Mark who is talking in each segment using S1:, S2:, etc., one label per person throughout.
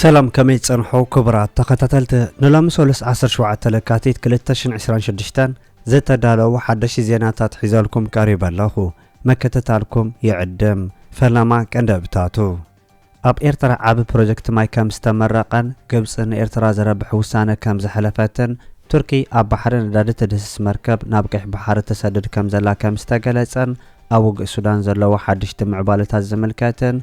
S1: ሰላም ከመይ ጸንሑ ክቡራት ተኸታተልቲ ንሎሚ ሰሉስ 17 ለካቲት 2026 ዝተዳለዉ ሓደሽቲ ዜናታት ሒዘልኩም ቀሪበ ኣለኹ መከተታልኩም ይዕድም ፈለማ ቀንደብታቱ ኣብ ኤርትራ ዓቢ ፕሮጀክት ማይ ከምዝተመረቐን ግብጺ ንኤርትራ ዘረብሕ ውሳነ ከምዘሕለፈትን ቱርኪ ኣብ ባሕሪ ነዳዲ ትድህስስ መርከብ ናብ ቀይሕ ባሕሪ ትሰድድ ከምዘላ ከምዝተገለጸን ኣብ ውግእ ሱዳን ዘለዎ ሓድሽቲ ምዕባለታት ዝምልከትን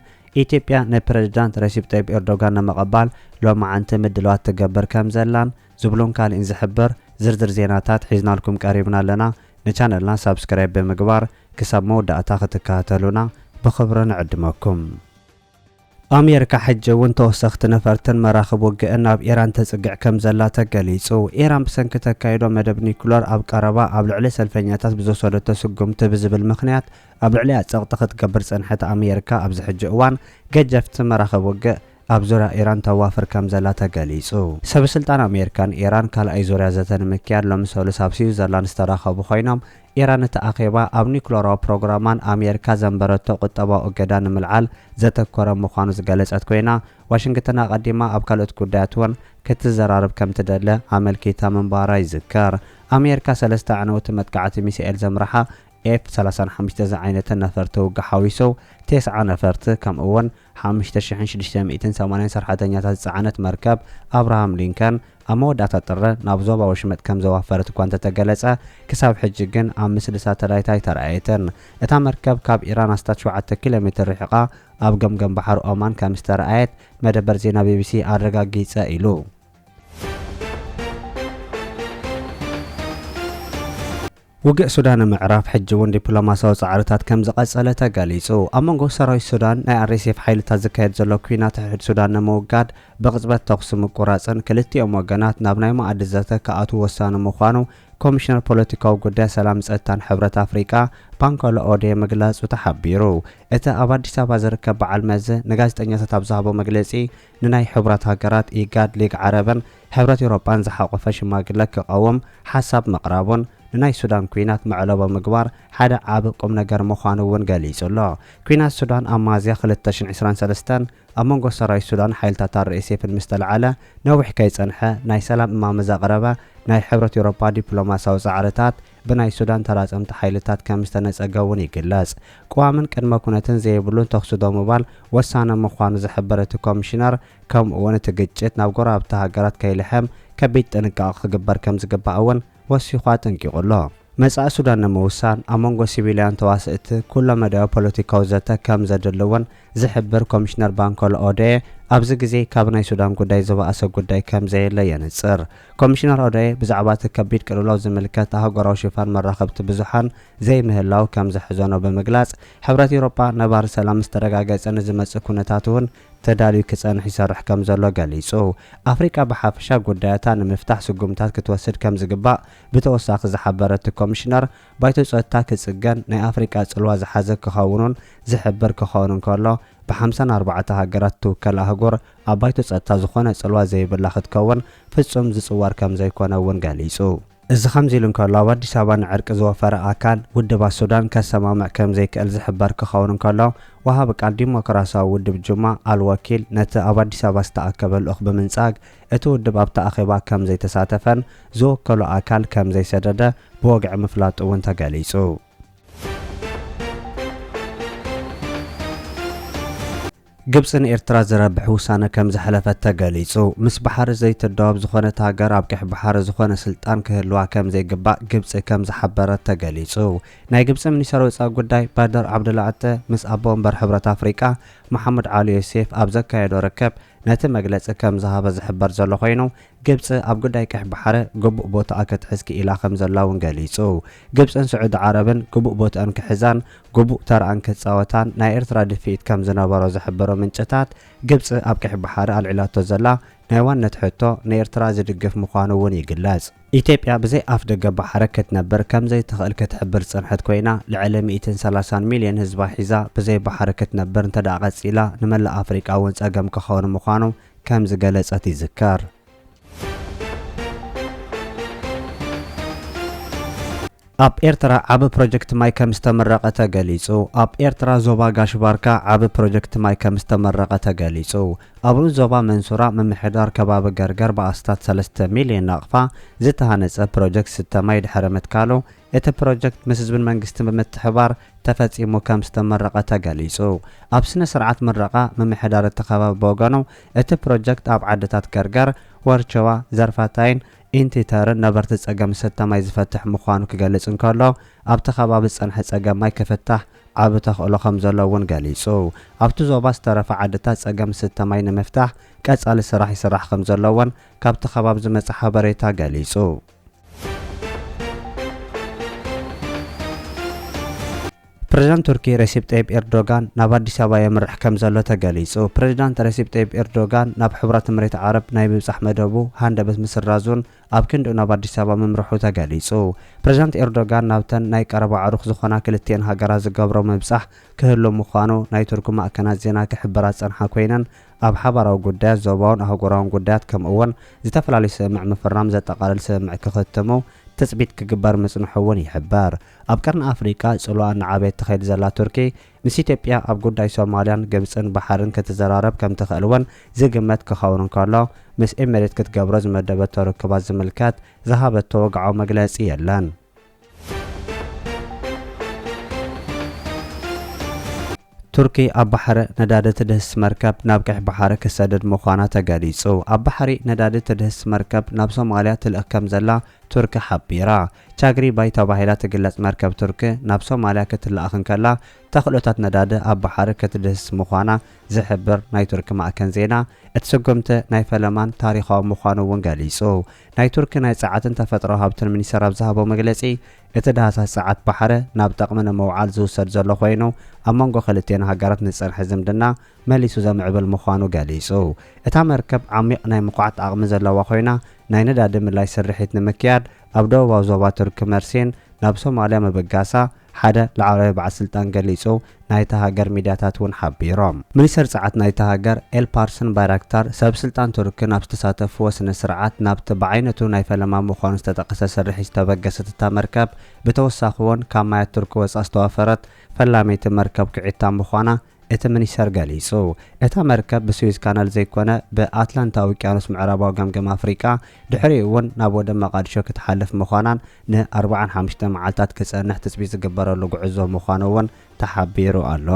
S1: ኢትዮጵያ ንፕረዚዳንት ረሲፕ ጠይብ ኤርዶጋን ንምቕባል ሎማዕንቲ ምድላዋት ትገብር ከምዘላን ዝብሉን ካሊእን ዝሕብር ዝርዝር ዜናታት ሒዝናልኩም ቀሪብና ኣለና። ንቻነልና ሳብስክራይብ ብምግባር ክሳብ መወዳእታ ክትከታተሉና ብኽብሪ ንዕድመኩም። ኣሜሪካ ሕጂ እውን ተወሰኽቲ ነፈርትን መራኽብ ውግእን ናብ ኢራን ተፅግዕ ከምዘላ ተገሊፁ። ኢራን ብሰንኪ ተካይዶ መደብ ኒኩለር ኣብ ቀረባ ኣብ ልዕሊ ሰልፈኛታት ብዝወሰደቶ ስጉምቲ ብዝብል ምኽንያት ኣብ ልዕሊኣ ፀቕጢ ክትገብር ዝፀንሐት ኣሜሪካ ኣብዚ ሕጂ እዋን ገጀፍቲ መራኽብ ውግእ ኣብ ዙርያ ኢራን ተዋፍር ከምዘላ ተገሊጹ። ሰበስልጣን ኣሜሪካን ኢራን ካልኣይ ዙርያ ዘተ ንምክያድ ሎሚ ሰሉስ ኣብ ስዊዘርላንድ ዝተራኸቡ ኮይኖም፣ ኢራን እቲ ኣኼባ ኣብ ኒዩክለራዊ ፕሮግራማን ኣሜሪካ ዘንበረቶ ቁጠባዊ እገዳ ንምልዓል ዘተኮረ ምዃኑ ዝገለጸት ኮይና፣ ዋሽንግተን ኣቐዲማ ኣብ ካልኦት ጉዳያት'ውን ክትዘራረብ ከምትደለ ኣመልኪታ ምንባራ ይዝከር። ኣሜሪካ ሰለስተ ኣዕነውቲ መጥቃዕቲ ሚሳኤል ዘምረሓ ኤፍ ሰላሳን ሓሙሽተ ዝዓይነተን ነፈርቲ ውግእ ሓዊሱ ቴስዓ ነፈርቲ ከምኡ'ውን ሓሙሽተ ሽሕን ሽዱሽተ ሚእትን ሰማንያን ሰርሐተኛታት ዝጸዓነት መርከብ ኣብርሃም ሊንከን ኣብ መወዳእታ ጥሪ ናብ ዞባ ወሽመጥ ከም ዘዋፈረት እኳ እንተተገለጸ፣ ክሳብ ሕጂ ግን ኣብ ምስሊ ሳተላይት ኣይተራእየትን። እታ መርከብ ካብ ኢራን ኣስታት ሸውዓተ ኪሎ ሜትር ርሒቓ ኣብ ገምገም ባሕሪ ኦማን ከም ዝተራእየት መደበር ዜና ቢቢሲ ኣረጋጊጸ ኢሉ። ውግእ ሱዳን ንምዕራፍ ሕጂ እውን ዲፕሎማሲያዊ ጻዕርታት ከም ዝቐጸለ ተገሊጹ። ኣብ መንጎ ሰራዊት ሱዳን ናይ ኣርኤስኤፍ ሓይልታት ዝካየድ ዘሎ ኲናት ሕድሕድ ሱዳን ንምውጋድ ብቕጽበት ተኹሲ ምቁራጽን ክልቲኦም ወገናት ናብ ናይ መኣዲ ዘተ ክኣትዉ ወሳኒ ምዃኑ ኮሚሽነር ፖለቲካዊ ጉዳይ ሰላም ጸጥታን ሕብረት ኣፍሪቃ ባንኮሎ ኦዴ ምግላጹ ተሓቢሩ። እቲ ኣብ ኣዲስ ኣበባ ዝርከብ በዓል መዚ ንጋዜጠኛታት ኣብ ዝሃቦ መግለጺ ንናይ ሕቡራት ሃገራት፣ ኢጋድ፣ ሊግ ዓረብን ሕብረት ኤውሮጳን ዝሓቖፈ ሽማግለ ክቐውም ሓሳብ ምቕራቡን ንናይ ሱዳን ኲናት መዕለቦ ምግባር ሓደ ዓቢ ቁምነገር ምዃኑ እውን ገሊጹ ኣሎ። ኲናት ሱዳን ኣብ መያዝያ ክልተ ሽሕን ዕስራን ሰለስተን ኣብ መንጎ ሰራዊት ሱዳንን ሓይልታት ኣርኤስኤፍን ምስ ተላዕለ ነዊሕ ከይጸንሐ ናይ ሰላም እማመ ዘቕረበ ናይ ሕብረት ኤውሮጳ ዲፕሎማስያዊ ጻዕርታት ብናይ ሱዳን ተራጸምቲ ሓይልታት ከም ዝተነጸገ እውን ይግለጽ። ቅዋምን ቅድመ ኩነትን ዘይብሉን ተኹሲ ደው ምባል ወሳኒ ምዃኑ ዝሕብር እቲ ኮሚሽነር፣ ከምኡ እውን እቲ ግጭት ናብ ጎረባብቲ ሃገራት ከይልሕም ከቢድ ጥንቃቐ ክግበር ከም ዝግባእ እውን ወሲኹ ኣጠንቂቑ ኣሎ። መጻኢ ሱዳን ንምውሳን ኣብ መንጎ ሲቪልያን ተዋሰእቲ ኩለ መዳያዊ ፖለቲካዊ ዘተ ከም ዘድሊ እውን ዝሕብር ኮሚሽነር ባንኮለ ኦዶየ፣ ኣብዚ ግዜ ካብ ናይ ሱዳን ጉዳይ ዝበኣሰ ጉዳይ ከም ዘየለ የነጽር። ኮሚሽነር ኦዶየ፣ ብዛዕባ እቲ ከቢድ ቅልውላው ዝምልከት ኣህጉራዊ ሽፋን መራኸብቲ ብዙሓን ዘይምህላው ከም ዘሕዘኖ ብምግላጽ፣ ሕብረት ኤውሮጳ ነባሪ ሰላም ምስ ተረጋገጸ ንዝመጽእ ኩነታት'ውን ተዳልዩ ክጸንሕ ይሰርሕ ከም ዘሎ ገሊጹ። ኣፍሪቃ ብሓፈሻ ጉዳያታ ንምፍታሕ ስጉምታት ክትወስድ ከም ዝግባእ ብተወሳኺ ዝሓበረ እቲ ኮሚሽነር፣ ባይቶ ጸጥታ ክጽገን ናይ ኣፍሪቃ ጽልዋ ዝሓዘ ክኸውን'ውን ዝሕብር ክኸውን እንከሎ፣ ብሓምሳን ኣርባዕተ ሃገራት እትውከል ኣህጉር ኣብ ባይቶ ጸጥታ ዝኾነ ጽልዋ ዘይብላ ክትከውን ፍጹም ዝጽወር ከምዘይኮነ እውን ገሊጹ። እዚ ከምዚ ኢሉ እንከሎ፣ ኣብ ኣዲስ ኣበባ ንዕርቂ ዝወፈረ ኣካል፣ ውድባት ሱዳን ከሰማምዕ ከምዘይክእል ዝሕበር ክኸውን እንከሎ፣ ወሃቢ ቃል ዲሞክራስያዊ ውድብ ጁማ ኣል ወኪል ነቲ ኣብ ኣዲስ ኣበባ ዝተኣከበ ልኡኽ ብምንጻግ፣ እቲ ውድብ ኣብቲ ኣኼባ ከምዘይተሳተፈን ዝወከሎ ኣካል ከምዘይሰደደ ብወግዒ ምፍላጡ እውን ተገሊጹ። ግብጺ ንኤርትራ ዝረብሕ ውሳነ ከም ዘሕለፈት ተገሊጹ። ምስ ባሕሪ ዘይትዳወብ ዝኾነት ሃገር ኣብ ቀይሕ ባሕሪ ዝኾነ ስልጣን ክህልዋ ከም ዘይግባእ ግብጺ ከም ዝሓበረት ተገሊጹ። ናይ ግብጺ ሚኒስተር ወጻኢ ጉዳይ ባድር ዓብደላዕጠ ምስ ኣቦ ወንበር ሕብረት ኣፍሪቃ መሓሙድ ዓሊ ዮሴፍ ኣብ ዘካየዶ ርክብ ነቲ መግለጺ ከም ዝሃበ ዝሕበር ዘሎ ኮይኑ ግብፂ ኣብ ጉዳይ ቀይሕ ባሕረ ግቡእ ቦትኣ ክትሕዝ ክኢላ ከምዘላ እውን ገሊፁ። ግብፅን ስዑዲ ዓረብን ግቡእ ቦትኣን ክሕዛን ግቡእ ተርኣን ክፃወታን ናይ ኤርትራ ድፍኢት ከምዝነበሮ ዝሕብሩ ምንጭታት፣ ግብፂ ኣብ ቀይሕ ባሕሪ ኣልዒላቶ ዘላ ናይ ዋንነት ሕቶ ንኤርትራ ዝድግፍ ምዃኑ እውን ይግለፅ። ኢትዮጵያ ብዘይ ኣፍ ደገ ባሕረ ክትነብር ከምዘይትኽእል ክትሕብር ዝፀንሐት ኮይና፣ ልዕሊ ሚእትን ሰላሳን ሚልየን ህዝባ ሒዛ ብዘይ ባሕሪ ክትነብር እንተድኣ ቀፂላ ንመላእ ኣፍሪቃ እውን ፀገም ክኸውን ምዃኑ ከም ዝገለጸት ይዝከር። ኣብ ኤርትራ ዓቢ ፕሮጀክት ማይ ከም ዝተመረቐ ተገሊጹ ኣብ ኤርትራ ዞባ ጋሽ ባርካ ዓቢ ፕሮጀክት ማይ ከም ዝተመረቐ ተገሊጹ። ኣብሩ ዞባ መንሱራ ምምሕዳር ከባቢ ገርገር ብኣስታት ሰለስተ ሚልዮን ናቕፋ ዝተሃነጸ ፕሮጀክት ስተ ማይ ድሕሪ ምትካሉ እቲ ፕሮጀክት ምስ ህዝብን መንግስትን ብምትሕብባር ተፈፂሙ ከም ዝተመረቐ ተገሊፁ። ኣብ ስነ ስርዓት ምረቓ ምምሕዳር እቲ ከባቢ ብወገኑ እቲ ፕሮጀክት ኣብ ዓድታት ገርገር፣ ወርቸዋ፣ ዘርፋታይን ኢንቲተርን ነበርቲ ፀገም ዝስተ ማይ ዝፈትሕ ምዃኑ ክገልፅ እንከሎ ኣብቲ ከባቢ ዝፀንሐ ፀገም ማይ ክፍታሕ ዓቢ ተኽእሎ ከም ዘሎ እውን ገሊፁ። ኣብቲ ዞባ ዝተረፋ ዓድታት ፀገም ዝስተ ማይ ንምፍታሕ ቀፃሊ ስራሕ ይስራሕ ከም ዘሎ እውን ካብቲ ከባቢ ዝመፀ ሓበሬታ ገሊፁ። ፕሬዚዳንት ቱርኪ ረሲፕ ጠይብ ኤርዶጋን ናብ ኣዲስ ኣበባ የምርሕ ከም ዘሎ ተገሊጹ። ፕሬዚዳንት ረሲፕ ጠይብ ኤርዶጋን ናብ ሕቡራት እምሬት ዓረብ ናይ ምብጻሕ መደቡ ሃንደበት ምስራዙን ኣብ ክንድኡ ናብ ኣዲስ ኣበባ ምምርሑ ተገሊጹ። ፕሬዚዳንት ኤርዶጋን ናብተን ናይ ቀረባ ኣዕሩኽ ዝኾና ክልቲኤን ሃገራት ዝገብሮ ምብጻሕ ክህሉ ምዃኑ ናይ ቱርኪ ማእከናት ዜና ክሕብራ ዝጸንሓ ኮይነን ኣብ ሓባራዊ ጉዳያት፣ ዞባውን ኣህጉራውን ጉዳያት ከምኡ'ውን ዝተፈላለዩ ስምምዕ ምፍራም ዘጠቓልል ስምምዕ ክኽትሙ ትጽቢት ክግበር ምጽንሑ'ውን ይሕበር። ኣብ ቀርኒ ኣፍሪቃ ጽልዋኣ እናዓበየት ትኸይድ ዘላ ቱርኪ፣ ምስ ኢትዮጵያ ኣብ ጉዳይ ሶማልያን ግብጽን ባሕርን ክትዘራረብ ከም ትኽእል'ውን ዝግመት ክኸውን እንከሎ፣ ምስ ኤሚሬት ክትገብሮ ዝመደበቶ ርክባት ዝምልከት ዝሃበቶ ወግዓዊ መግለጺ የለን። ቱርኪ ኣብ ባሕረ ነዳዲ ትድህስስ መርከብ ናብ ቀይሕ ባሕሪ ክትሰድድ ምዃና ተገሊጹ። ኣብ ባሕሪ ነዳዲ ትድህስስ መርከብ ናብ ሶማልያ ትልእኽ ከምዘላ ቱርኪ ሓቢራ። ቻግሪ ባይ ተባሂላ ትግለጽ መርከብ ቱርኪ ናብ ሶማልያ ክትለኣኽ እንከላ ተኽእሎታት ነዳዲ ኣብ ባሕሪ ክትድህስስ ምዃና ዝሕብር ናይ ቱርኪ ማእከን ዜና፣ እቲ ስጉምቲ ናይ ፈለማን ታሪኻዊ ምዃኑ እውን ገሊጹ። ናይ ቱርኪ ናይ ጸዓትን ተፈጥሮኣዊ ሃብትን ሚኒስተር ኣብ ዝሃቦ መግለጺ፣ እቲ ዳህሳስ ጸዓት ባሕሪ ናብ ጠቕሚ ንምውዓል ዝውሰድ ዘሎ ኮይኑ፣ ኣብ መንጎ ክልቲኤን ሃገራት ንዝጸንሐ ዝምድና መሊሱ ዘምዕብል ምዃኑ ገሊጹ። እታ መርከብ ዓሚቕ ናይ ምኹዓት ዓቕሚ ዘለዋ ኮይና፣ ናይ ነዳዲ ምልላይ ስርሒት ንምክያድ፣ ኣብ ደቡባዊ ዞባ ቱርኪ መርሴን ናብ ሶማልያ ምብጋሳ ሓደ ላዕለዋይ በዓል ስልጣን ገሊጹ ናይታ ሃገር ሚድያታት እውን ሓቢሮም። ሚኒስተር ጸዓት ናይታ ሃገር ኤልፓርስን ባይራክታር ሰብ ስልጣን ቱርኪ ናብ ዝተሳተፍዎ ስነ ስርዓት ናብቲ ብዓይነቱ ናይ ፈለማ ምዃኑ ዝተጠቐሰ ስርሒት ዝተበገሰት እታ መርከብ ብተወሳኺ'ውን ካብ ማያት ቱርኪ ወጻእ ዝተዋፈረት ፈላመይቲ መርከብ ኩዒታ ምዃና እቲ ሚኒስተር ገሊጹ። እታ መርከብ ብስዊዝ ካናል ዘይኮነ ብኣትላንታ ውቅያኖስ ምዕራባዊ ገምገም ኣፍሪቃ ድሕሪኡ'ውን ናብ ወደብ መቓድሾ ክትሓልፍ ምዃናን ን ኣርብዓን ሓሙሽተን መዓልታት ክጸንሕ ትጽቢት ዝግበረሉ ጉዕዞ ምዃኑ'ውን ተሓቢሩ ኣሎ።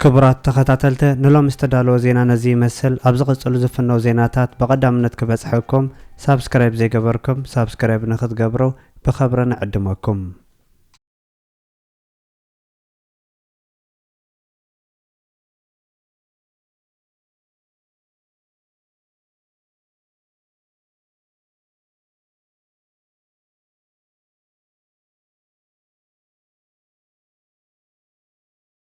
S1: ክቡራት ተኸታተልተ ንሎሚ ዝተዳለወ ዜና ነዚ ይመስል ኣብ ዝቕጽሉ ዝፍነው ዜናታት ብቐዳምነት ክበጽሐኩም ሳብስክራይብ ዘይገበርኩም ሳብስክራይብ ንኽትገብሩ ብኸብሪ ንዕድመኩም።